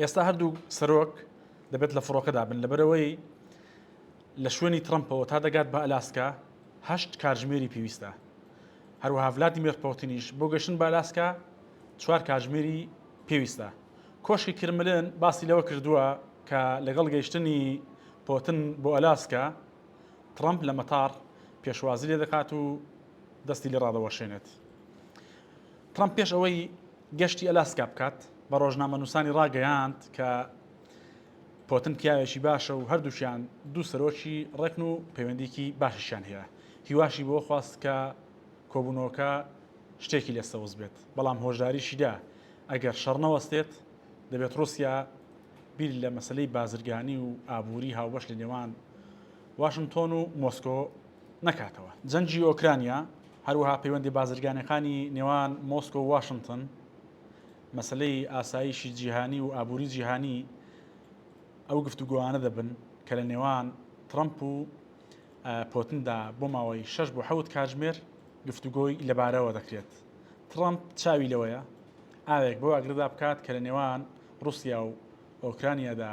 ئێستا هەردوو سەرۆک دەبێت لە فڕۆکەدا بن لەبەرەوەی لە شوێنی ترمپەوە تا دەگات بە ئەلاسکە هەشت کارژمێری پێویستە هەروەها ولادیمێر پۆتینیش بۆ گەشتن بە ئەلاسکە چوار کارژمێری پێویستە کۆشکی کرملن باسی لەوە کردووە کە لەگەڵ گەیشتنی پۆتن بۆ ئەلاسکە ترمپ لە مەتار پێشوازی لێ دەکات و دەستی لە ڕادەوەشێنێت ترەمپ پێش ئەوەی گەشتی ئەلاسکا بکات، بە ڕۆژنامەنووسانی ڕاگەیاند کە پۆتن پیاوێکی باشە و هەردووکیان دوو سەرۆکی ڕێکن و پەیوەندیکی باشیشیان هەیە، هیواشی بەوە خواست کە کۆبوونەوەکە شتێکی لێ سەوز بێت، بەڵام هۆشداریشی دا ئەگەر شەڕ نەوەستێت، دەبێت ڕووسیا بیر لە مەسەلەی بازرگانی و ئابووری هاوبەش لە نێوان واشنتۆن و مۆسکۆ نەکاتەوە. جەنگی ئۆکرانیا، هەروەها پەیوەندی بازرگانیەکانی نێوان مۆسکۆ و واشنتن، مەسەلەی ئاسایشی جیهانی و ئابوری جیهانی ئەو گفتوگۆانە دەبن کە لە نێوان ترەمپ و پۆتندا بۆ ماوەی شەش بۆ حەوت کاتژمێر گفتوگۆی لەبارەوە دەکرێت. ترەمپ چاوی لەوەیە ئاوێک بەو ئاگرەدا بکات کە لە نێوان روسیا و ئۆکرانیادا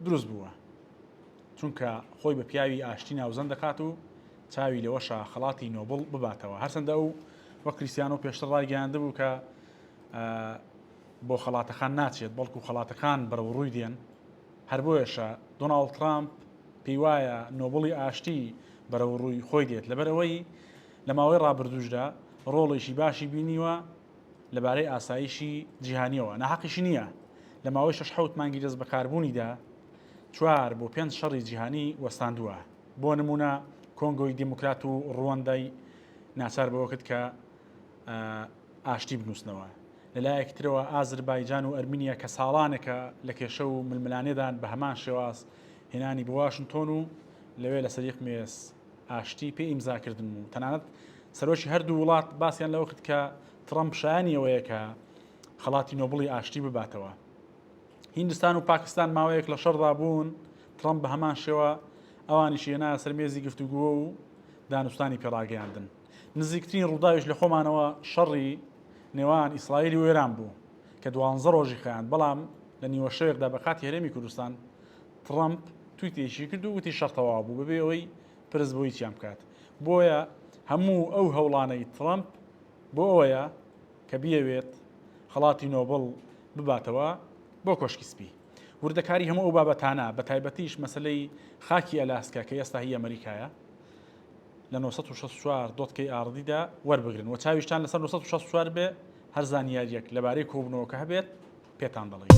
دروست بووە. چونکە خۆی بە پیاوی ئاشتی ناوزەند دەکات و چاوی لەوەشە خەڵاتی نۆبڵ بباتەوە هەرچەندە ئەو وە کریسیانۆ پێشتر ڕایگەیاندبوو کە بۆ خەڵاتەکان ناچێت بەڵکو خەڵاتەکان بەرەو ڕووی دێن هەر بۆیەشە دۆناڵد ترامپ پێی وایە نۆبڵی ئاشتی بەرەو ڕووی خۆی دێت لەبەرەوەی لە ماوەی ڕابردووشدا ڕۆڵێکی باشی بینیوە لەبارەی ئاسایشی جیهانیەوە ناحەقیشی نییە لە ماوەی شش حوت مانگی دەست بەکاربوونیدا چوار بۆ پێنج شەڕی جیهانی وەستاندووە، بۆ نموونە کۆنگۆی دیموکرات و ڕوەندای ناچار بەوە کرد کە ئاشتی بنووسنەوە. لە لایەکی ترەوە ئازربایجان و ئەرمینیا کە ساڵانێکە لە کێشە و ململانێدان بە هەمان شێواز هێنانی بۆ واشنتۆن و لەوێ لەسەر یەک مێز ئاشتی پێ ئیمزا کردن و تەنانەت سەرۆکی هەردوو وڵات باسیان لەوە کرد کە ترەمپ شایانی ئەوەیە کە خەڵاتی نۆبڵی ئاشتی بباتەوە. هیندستان و پاکستان ماوەیەک لە شەڕدا بوون، ترەمپ بە هەمان شێوە ئەوانیشی هێنایە سەر مێزی گفتوگۆ و دانوستانی پێ ڕاگەیاندن. نزیکترین ڕووداویش لە خۆمانەوە شەڕی نێوان ئیسرائیل و ئێران بوو کە دوانزە ڕۆژی خایاند، بەڵام لە نیوە شەوێکدا بە کاتی هەرێمی کوردستان ترەمپ تویتێکی کرد و وتی شەڕ تەواو بوو بەبێ ئەوەی پرس بۆ هیچیان بکات. بۆیە هەموو ئەو هەوڵانەی ترەمپ، بۆ ئەوەیە کە بیەوێت خەڵاتی نۆبڵ بباتەوە بۆ کۆشکی سپی. وردەکاری هەموو ئەو بابەتانە، بەتایبەتیش مەسەلەی خاکی ئەلاسکا کە ئێستا هی ئەمریکایە، لە نۆ سەد و شەست و چوار دۆتکەی ئاڕدیدا وەربگرن و چاویشتان لەسەر نۆ سەد و شەست و چوار بێ هەر زانیارییەک لەبارەی کۆبوونەوەکە هەبێت پێتان دەڵێین.